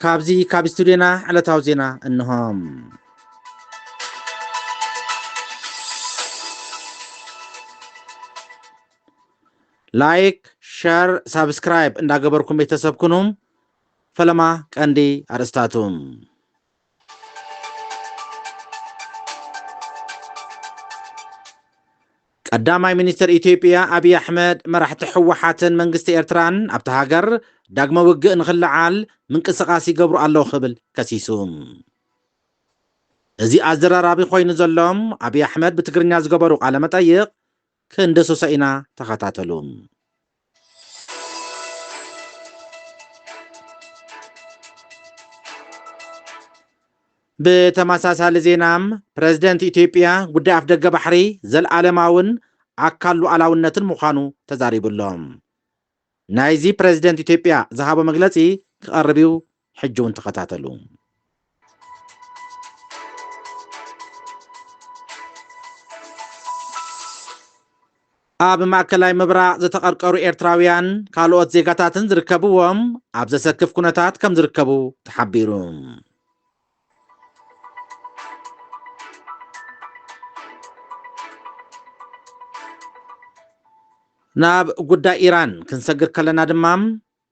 ካብዚ ካብ ስቱድዮና ዕለታዊ ዜና እንሆ። ላይክ ሸር ሳብስክራይብ እንዳገበርኩም ቤተሰብ ኩኑ። ፈለማ ቀንዲ ኣርእስታቱ ቀዳማይ ሚኒስተር ኢትዮጵያ ኣብይ ኣሕመድ፣ መራሕቲ ህወሓትን መንግስቲ ኤርትራን ኣብታ ሃገር ዳግመ ውግእ ንኽለዓል ምንቅስቓስ ይገብሩ ኣለዉ ክብል ከሲሱ። እዚ ኣዘራራቢ ኮይኑ ዘሎ ኣብይ ኣሕመድ ብትግርኛ ዝገበሩ ቃለ መጠይቕ ክንድህስሶ ኢና ተኸታተሉ። ብተመሳሳሊ ዜና ፕረዚደንት ኢትዮጵያ ጉዳይ ኣፍደገ ባሕሪ ዘለኣለማውን ኣካል ሉዓላውነትን ምዃኑ ተዛሪቡ ኣሎ። ናይዚ ፕረዚደንት ኢትዮጵያ ዝሃቦ መግለጺ ክቐርብ እዩ ሕጂ ውን ተኸታተሉ። ኣብ ማእከላይ ምብራቕ ዝተቐርቀሩ ኤርትራውያን ካልኦት ዜጋታትን ዝርከብዎም ኣብ ዘሰክፍ ኩነታት ከም ዝርከቡ ተሓቢሩ። ናብ ጉዳይ ኢራን ክንሰግር ከለና ድማ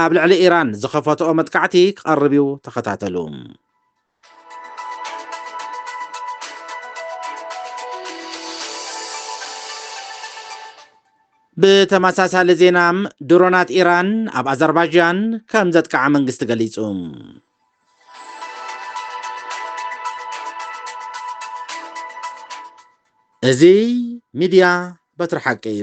ኣብ ልዕሊ ኢራን ዝኸፈትኦ መጥቃዕቲ ክቐርብ'ዩ፣ ተኸታተሉ። ብተመሳሳሊ ዜና ድሮናት ኢራን ኣብ ኣዘርባጃን ከም ዘጥቅዓ መንግስቲ ገሊጹ። እዚ ሚድያ በትሪ ሓቂ እዩ።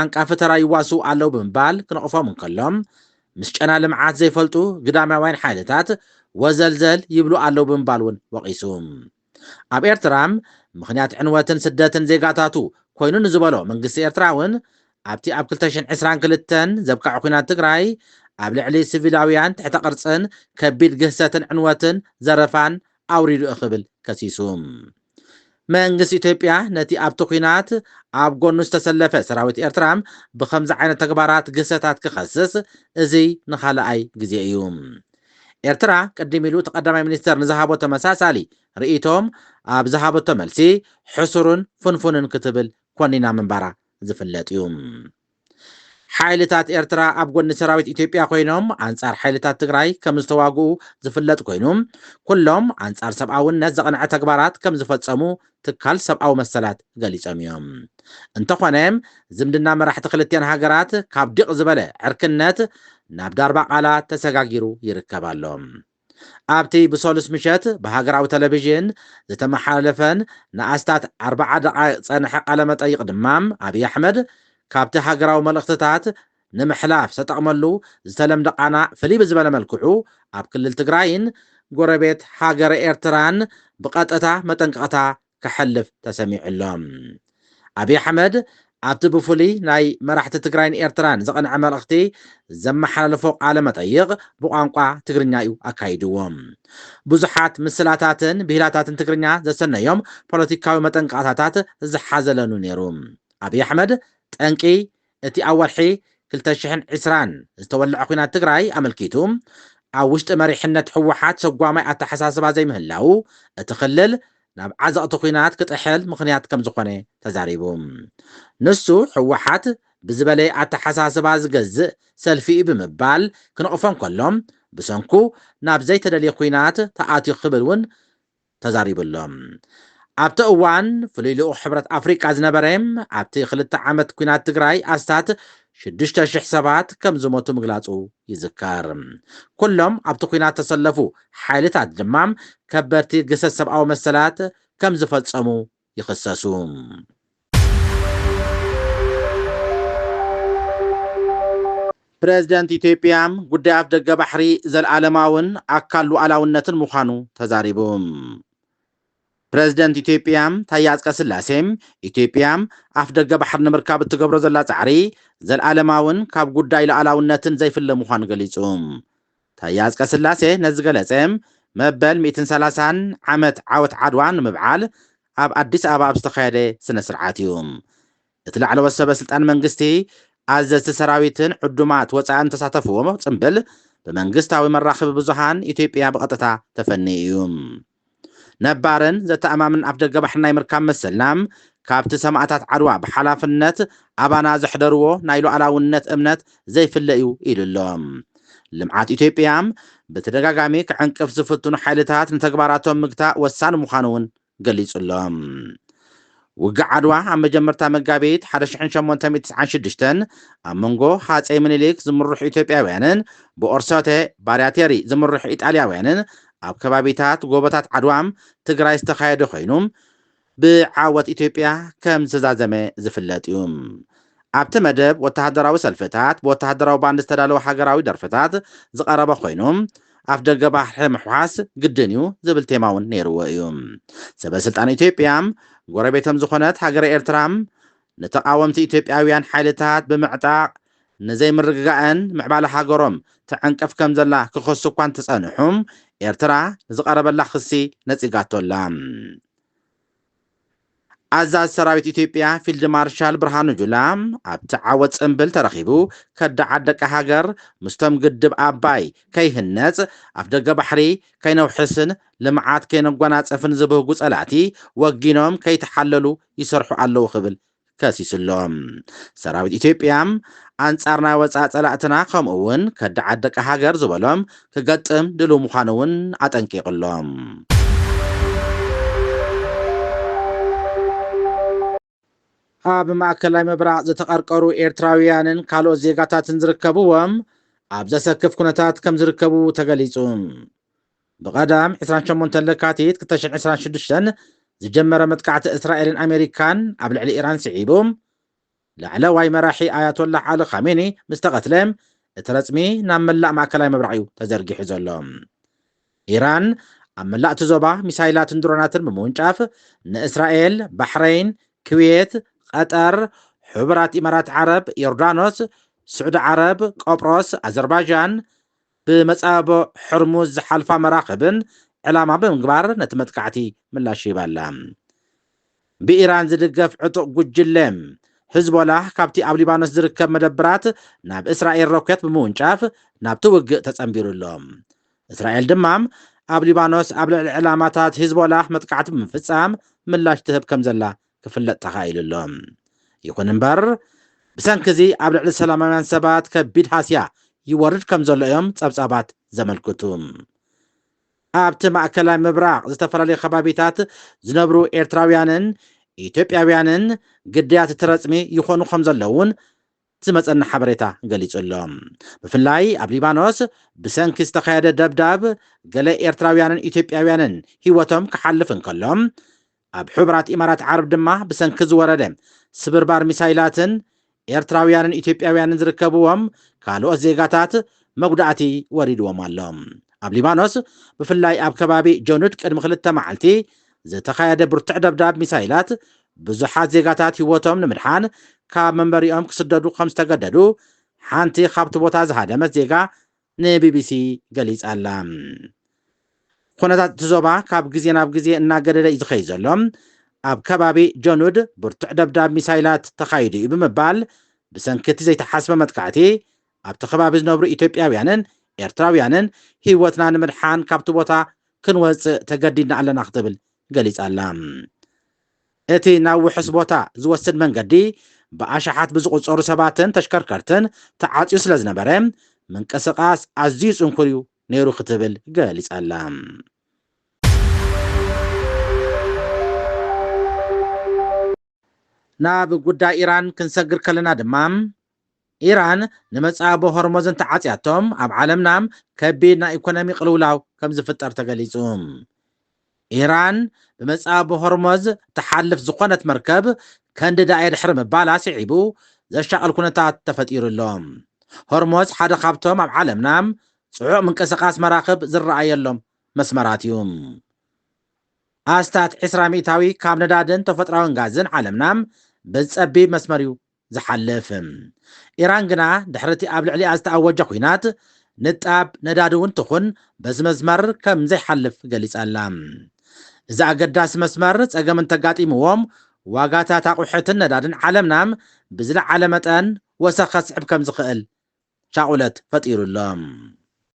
ዓንቃፊ ተራ ይዋስኡ ኣለዉ ብምባል ክንቕፎም እንከሎ፣ ምስ ጨና ልምዓት ዘይፈልጡ ግዳማውያን ሓይልታት ወዘልዘል ይብሉ ኣለዉ ብምባል እውን ወቒሱ። ኣብ ኤርትራ ምኽንያት ዕንወትን ስደትን ዜጋታቱ ኮይኑ ንዝበሎ መንግስቲ ኤርትራ እውን፣ ኣብቲ ኣብ ክልተ ሽሕን ዕስራን ክልተን ዘብቀዐ ኵናት ትግራይ ኣብ ልዕሊ ስቪላውያን ትሕተ ቅርጽን ከቢድ ግህሰትን ዕንወትን ዘረፋን ኣውሪዱ'ዩ ክብል ከሲሱ። መንግስቲ ኢትዮጵያ ነቲ ኣብቲ ኲናት ኣብ ጎኑ ዝተሰለፈ ሰራዊት ኤርትራ ብኸምዚ ዓይነት ተግባራት ግህሰታት ክኸስስ እዚ ንኻልኣይ ግዜ እዩ። ኤርትራ ቅድም ኢሉ እቲ ቀዳማይ ሚኒስተር ንዝሃቦ ተመሳሳሊ ርእይቶ ኣብ ዝሃበቶ መልሲ ሕሱርን ፍንፉንን ክትብል ኮኒና ምንባራ ዝፍለጥ እዩ። ሓይልታት ኤርትራ ኣብ ጎኒ ሰራዊት ኢትዮጵያ ኮይኖም ኣንጻር ሓይልታት ትግራይ ከም ዝተዋግኡ ዝፍለጥ ኮይኑ፣ ኩሎም ኣንጻር ሰብኣውነት ዘቕንዐ ተግባራት ከም ዝፈጸሙ ትካል ሰብኣዊ መሰላት ገሊጾም እዮም። እንተኾነ ዝምድና መራሕቲ ክልቲኣን ሃገራት ካብ ዲቕ ዝበለ ዕርክነት ናብ ዳርባቓላ ተሰጋጊሩ ይርከብ ኣሎ። ኣብቲ ብሰሉስ ምሸት ብሃገራዊ ተለቪዥን ዝተመሓላለፈን ንኣስታት ኣርብዓ ደቓይቕ ዝጸንሐ ቃለ-መጠይቕ ድማ፣ ኣብይ ኣሕመድ ካብቲ ሃገራዊ መልእኽትታት ንምሕላፍ ዝተጠቕመሉ ዝተለምደ ቃና ፍልይ ብዝበለ መልክዑ ኣብ ክልል ትግራይን ጎረቤት ሃገረ ኤርትራን ብቐጥታ መጠንቀቕታ ክሐልፍ ተሰሚዑ ኣሎ። ኣብይ ኣሕመድ ኣብቲ ብፍሉይ ናይ መራሕቲ ትግራይን ኤርትራን ዝቐንዐ መልእኽቲ ዘመሓላለፎ ቃለ መጠይቕ ብቋንቋ ትግርኛ እዩ ኣካይድዎ። ብዙሓት ምስላታትን ብሂላታትን ትግርኛ ዘሰነዮም ፖለቲካዊ መጠንቀቕታታት ዝሓዘለን'ዩ ነይሩ። ኣብይ ኣሕመድ ጠንቂ እቲ ኣብ ወርሒ ክልተ ሽሕን ዕስራን ዝተወልዐ ኲናት ትግራይ ኣመልኪቱ ኣብ ውሽጢ መሪሕነት ህወሓት ሰጓማይ ኣተሓሳስባ ዘይምህላዉ እቲ ክልል ናብ ዓዘቕቲ ኲናት ክጥሕል ምኽንያት ከምዝኾነ ተዛሪቡ። ንሱ ህወሓት ብዝበለየ ኣተሓሳስባ ዝገዝእ ሰልፊ'ዩ ብምባል ክንቕፎ እንከሎ ብሰንኩ ናብ ዘይተደልየ ኲናት ተኣትዩ ክብል እውን ተዛሪቡ'ሎ። ኣብቲ እዋን ፍሉይ ልኡኽ ሕብረት ኣፍሪቃ ዝነበረ፣ ኣብቲ ክልተ ዓመት ኲናት ትግራይ ኣስታት ሽዱሽተ ሽሕ ሰባት ከም ዝሞቱ ምግላጹ ይዝከር። ኩሎም ኣብቲ ኲናት ዝተሰለፉ ሓይልታት ድማ ከበድቲ ግህሰት ሰብኣዊ መሰላት ከም ዝፈጸሙ ይኸሰሱ። ፕረዚደንት ኢትዮጵያ ጉዳይ ኣፍደገ ባሕሪ ዘልኣለማውን ኣካል ሉኣላውነትን ምዃኑ ተዛሪቡ። ፕረዚደንት ኢትዮጵያ ታዬ ኣጽቀስላሴ ኢትዮጵያ ኣፍደገ ባሕሪ ንምርካብ እትገብሮ ዘላ ጻዕሪ ዘልኣለማውን ካብ ጉዳይ ሉኣላውነትን ዘይፍለ ምዃኑ ገሊጹ። ታየ ኣፅቀስላሴ ነዚ ዝገለፀ መበል ሚእትን ሰላሳን ዓመት ዓወት ዓድዋ ንምብዓል ኣብ ኣዲስ ኣበባ ኣብ ዝተኻየደ ስነ ስርዓት እዩ። እቲ ላዕለዎት ሰበ ስልጣን መንግስቲ፣ ኣዘዝቲ ሰራዊትን ዕዱማት ወፃእን ዝተሳተፍዎ ፅምብል ብመንግስታዊ መራኸቢ ብዙሃን ኢትዮጵያ ብቐጥታ ተፈንዩ እዩ። ነባርን ዘተኣማምን ኣፍደገ ባሕሪ ናይ ምርካብ መሰልና፣ ካብቲ ሰማእታት ዓድዋ ብሓላፍነት ኣባና ዘሕደርዎ ናይ ሉኣላውነት እምነት ዘይፍለ እዩ ኢሉ ኣሎ። ልምዓት ኢትዮጵያ ብተደጋጋሚ ክዕንቅፍ ዝፍትኑ ሓይልታት ንተግባራቶም ምግታእ ወሳኒ ምዃኑ እውን ገሊፁ ኣሎ። ውግእ ዓድዋ ኣብ መጀመርታ መጋቢት ሓደ ሽሕን ሸሞንተ ሚእቲ ትስዓን ሽዱሽተን ኣብ መንጎ ሃጸይ ምኒሊክ ዝምርሑ ኢትዮጵያውያንን ብኦርሶተ ባርያቴሪ ዝምርሑ ኢጣልያውያንን ኣብ ከባቢታት ጎቦታት ዓድዋም ትግራይ ዝተኻየደ ኮይኑ ብዓወት ኢትዮጵያ ከም ዝተዛዘመ ዝፍለጥ እዩ። ኣብቲ መደብ ወተሃደራዊ ሰልፍታት ብወተሃደራዊ ባንድ ዝተዳለወ ሃገራዊ ደርፍታት ዝቐረበ ኮይኑ ኣፍደገ ባሕሪ ምሕዋስ ግድን እዩ ዝብል ቴማ እውን ነይርዎ እዩ። ሰበ ስልጣን ኢትዮጵያ ጎረቤቶም ዝኾነት ሃገረ ኤርትራ ንተቓወምቲ ኢትዮጵያውያን ሓይልታት ብምዕጣቕ ንዘይምርግጋእን ምዕባለ ሃገሮም ትዕንቅፍ ከም ዘላ ክኸሱ እኳ እንተጸንሑ ኤርትራ ንዝቐረበላ ክሲ ነጺጋቶ ኣላ። ኣዛዚ ሰራዊት ኢትዮጵያ ፊልድ ማርሻል ብርሃኑ ጁላ ኣብቲ ዓወት ጽንብል ተረኺቡ ከዳዓት ደቂ ሃገር ምስቶም ግድብ ኣባይ ከይህነጽ ኣፍደገ ባሕሪ ከይነውሕስን ልምዓት ከይነጓናጽፍን ዝብህጉ ጸላእቲ ወጊኖም ከይተሓለሉ ይሰርሑ ኣለዉ ክብል ከሲሱ'ሎ። ሰራዊት ኢትዮጵያ፣ ኣንጻር ናይ ወጻኢ ጸላእትና ከምኡ'ውን ከዳዓት ደቂ ሃገር ዝበሎም ክገጥም ድሉው ምዃኑ'ውን ኣጠንቂቑ'ሎ። ኣብ ማእከላይ ምብራቕ ዝተቐርቀሩ ኤርትራውያንን ካልኦት ዜጋታትን ዝርከብዎም ኣብ ዘሰክፍ ኩነታት ከምዝርከቡ ተገሊጹ። ብቀዳም ዕስራን ሸሞንተን ለካቲት ክልተ ሽሕን ዕስራን ሽዱሽተን ዝጀመረ መጥቃዕቲ እስራኤልን ኣሜሪካን ኣብ ልዕሊ ኢራን ስዒቡ፣ ላዕለዋይ መራሒ ኣያቶላህ ዓሊ ኻሜኒ ምስ ተቐትለ፣ እቲ ረጽሚ ናብ መላእ ማእከላይ ምብራቕ'ዩ ተዘርጊሑ ዘሎ። ኢራን ኣብ መላእ'ቲ ዞባ ሚሳይላትን ድሮናትን ብምውንጫፍ ንእስራኤል፣ ባሕረይን፣ ክዌት፣ ቐጠር፣ ሕቡራት ኢማራት ዓረብ፣ ዮርዳኖስ፣ ስዑዲ ዓረብ፣ ቆጵሮስ፣ ኣዘርባዣን፣ ብመጻብቦ ሕርሙዝ ዝሓልፋ መራኽብን ዕላማ ብምግባር ነቲ መጥቃዕቲ ምላሽ ሂባ ኣላ። ብኢራን ዝድገፍ ዕጡቕ ጉጅለ ሕዝቦላህ ካብቲ ኣብ ሊባኖስ ዝርከብ መደብራት ናብ እስራኤል ሮኬት ብምውንጫፍ ናብቲ ውግእ ተጸንቢሩ ኣሎ። እስራኤል ድማ ኣብ ሊባኖስ ኣብ ልዕሊ ዕላማታት ሕዝቦላህ መጥቃዕቲ ብምፍጻም ምላሽ ትህብ ከምዘላ ክፍለጥ ተኻኢሉ ኣሎ። ይኹን እምበር ብሰንኪ እዚ ኣብ ልዕሊ ሰላማውያን ሰባት ከቢድ ሃስያ ይወርድ ከም ዘሎ እዮም ጸብጻባት ዘመልክቱ። ኣብቲ ማእከላይ ምብራቕ ዝተፈላለዩ ከባቢታት ዝነብሩ ኤርትራውያንን ኢትዮጵያውያንን ግዳያት እቲ ረጽሚ ይኾኑ ከም ዘለዉን ዝመጸና ሓበሬታ ገሊጹ ኣሎ። ብፍላይ ኣብ ሊባኖስ ብሰንኪ ዝተኻየደ ደብዳብ ገለ ኤርትራውያንን ኢትዮጵያውያንን ህይወቶም ክሓልፍ እንከሎ፣ ኣብ ሕቡራት ኢማራት ዓረብ ድማ ብሰንኪ ዝወረደ ስብርባር ሚሳይላትን ኤርትራውያንን ኢትዮጵያውያንን ዝርከብዎም ካልኦት ዜጋታት መጉዳእቲ ወሪድዎም ኣሎ። ኣብ ሊባኖስ ብፍላይ ኣብ ከባቢ ጆኑድ ቅድሚ ክልተ መዓልቲ ዝተኻየደ ብርቱዕ ደብዳብ ሚሳይላት ብዙሓት ዜጋታት ህይወቶም ንምድሓን ካብ መንበሪኦም ክስደዱ ከም ዝተገደዱ ሓንቲ ካብቲ ቦታ ዝሃደመት ዜጋ ንቢቢሲ ገሊጻ'ላ። ኩነታት እቲ ዞባ ካብ ግዜ ናብ ግዜ እናገደደ እዩ ዝኸይድ ዘሎ፣ ኣብ ከባቢ ጀኑድ ብርቱዕ ደብዳብ ሚሳይላት ተኻይዱ እዩ ብምባል ብሰንኪ እቲ ዘይተሓስበ መጥቃዕቲ ኣብቲ ከባቢ ዝነብሩ ኢትዮጵያውያንን ኤርትራውያንን ህይወትና ንምድሓን ካብቲ ቦታ ክንወጽእ ተገዲድና ኣለና ክትብል ገሊጻ'ላ። እቲ ናብ ውሑስ ቦታ ዝወስድ መንገዲ ብኣሽሓት ብዝቑጸሩ ሰባትን ተሽከርከርትን ተዓጽዩ ስለዝነበረ ምንቅስቓስ ኣዝዩ ጽንኩር'ዩ ነይሩ ክትብል ገሊጻ'ላ። ናብ ጉዳይ ኢራን ክንሰግር ከለና ድማ፣ ኢራን ንመጻኢ ኣቦ ሆርሞዝ እንተዓጽያቶ ኣብ ዓለምና ከቢድ ናይ ኢኮኖሚ ቅልውላው ከምዝፍጠር ተገሊጹ። ኢራን ብመጻኢ ኣቦ ሆርሞዝ ትሓልፍ ዝኾነት መርከብ ከንድዳ'የ ድሕሪ ምባላ ስዒቡ ዘሻቕል ኩነታት ተፈጢሩ ኣሎ። ሆርሞዝ ሓደ ካብቶም ኣብ ዓለምና ጽዑቕ ምንቅስቓስ መራኽብ ዝረኣየሎም መስመራት እዩ። ኣስታት ዕስራ ሚእታዊ ካብ ነዳድን ተፈጥራዊን ጋዝን ዓለምና በዚ ጸቢብ መስመር እዩ ዝሓልፍ። ኢራን ግና ድሕሪ እቲ ኣብ ልዕሊኣ ዝተኣወጀ ኲናት፣ ንጣብ ነዳዲ እውን ትኹን በዚ መስመር ከም ዘይሓልፍ ገሊጻ ኣላ። እዚ ኣገዳሲ መስመር ጸገም እንተጋጢምዎ፣ ዋጋታት ኣቑሑትን ነዳድን ዓለምና ብዝለዓለ መጠን ወሰኽ ከስዕብ ከም ዝኽእል ሻቕሎት ፈጢሩ ኣሎ።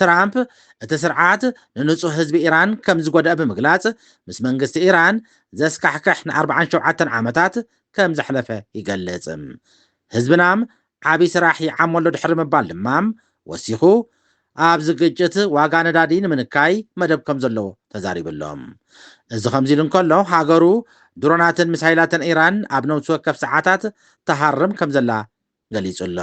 ትራምፕ እቲ ስርዓት ንንጹህ ህዝቢ ኢራን ከም ዝጎድእ ብምግላጽ ምስ መንግስቲ ኢራን ዘስካሕክሕ ን ኣርብዓን ሸውዓተን ዓመታት ከም ዘሕለፈ ይገልጽ። ህዝብናም ዓቢ ስራሕ ይዓሞ ኣሎ ድሕሪ ምባል ድማም ወሲኹ ኣብዚ ግጭት ዋጋ ነዳዲ ንምንካይ መደብ ከም ዘሎ ተዛሪቡ ኣሎ። እዚ ከምዚ ኢሉ እንከሎ ሃገሩ ድሮናትን ሚሳይላትን ኢራን ኣብ ነብሲ ወከፍ ሰዓታት ትሃርም ከም ዘላ ገሊጹ'ሎ።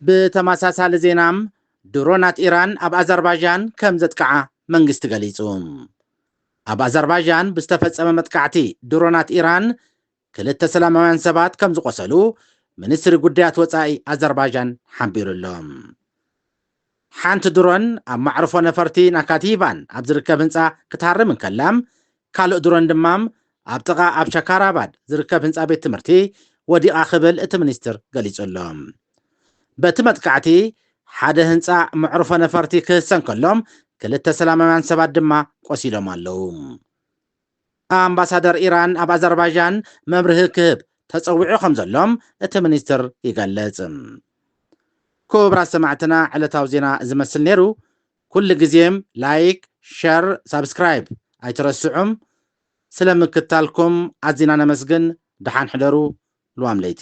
ብተመሳሳሊ ዜና ድሮናት ኢራን ኣብ ኣዘርባዣን ከም ዘጥቅዓ መንግስቲ ገሊጹ። ኣብ ኣዘርባዣን ብዝተፈጸመ መጥቃዕቲ ድሮናት ኢራን ክልተ ሰላማውያን ሰባት ከም ዝቖሰሉ ሚኒስትሪ ጉዳያት ወጻኢ ኣዘርባይጃን ሓቢሩ ኣሎ። ሓንቲ ድሮን ኣብ ማዕርፎ ነፈርቲ ናካቲቫን ኣብ ዝርከብ ህንጻ ክትሃርም እንከላ፣ ካልእ ድሮን ድማ ኣብ ጥቓ ኣብ ሻካራባድ ዝርከብ ህንጻ ቤት ትምህርቲ ወዲቓ ክብል እቲ ሚኒስትር ገሊጹ ኣሎ። በቲ መጥቃዕቲ ሓደ ህንጻ መዕርፎ ነፈርቲ ክህሰ እንከሎ፣ ክልተ ሰላማውያን ሰባት ድማ ቆሲሎም ኣለዉ። ኣምባሳደር ኢራን ኣብ ኣዘርባዣን መብርሂ ክህብ ተጸዊዑ ከምዘሎ እቲ ሚኒስትር ይገልጽ። ኩቡራት ሰማዕትና ዕለታዊ ዜና እዚ መስል ነይሩ። ኩሉ ግዜ ላይክ፣ ሸር፣ ሳብስክራይብ ኣይትረስዑ። ስለ ምክትታልኩም ኣዚና ነመስግን። ደሓን ሕደሩ። ልዋም ለይቲ።